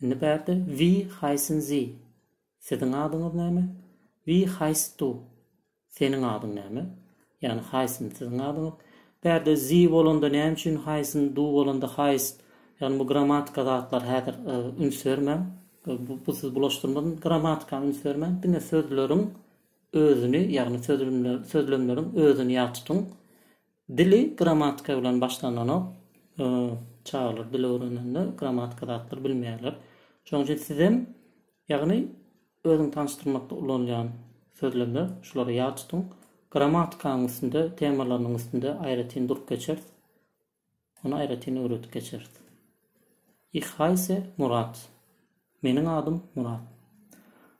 Indi bärde Wie heissen Sie? Siziň adyňyz näme? Wie heißt du? Seniň adyň näme? Ýagny heissen siziň adyňyz. Bärde Sie bolanda näme üçin heissen, du bolanda heißt? Ýagny bu grammatika zatlar häzir üns bermäň. Bu sizi bulaşdyrmasyn. Grammatika üns bermäň. Diňe sözleriň özüni, ýagny sözlemleriň özüni ýat tutuň. Dili grammatika bilen başlandanok. Çagalar dil öwrenende grammatika zatlary bilmeýärler. Şonuň üçin sizem, ýagny özüňi tanyşdyrmakda ulanylýan sözlemler, şulary ýat tutuň. Grammatikanyň üstünde, temalarynyň üstünde aýratyn durup geçeris. Ony aýratyn öwredip geçeris. Ich heisse Murat. Meniň adym Murat.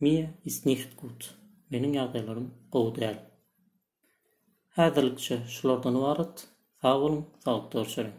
Mir ist nicht gut. Meniň ýagdaýlarym gowy däl. Häzirlikçe şulardan ybarat. Sag boluň, saglyk görüşerin.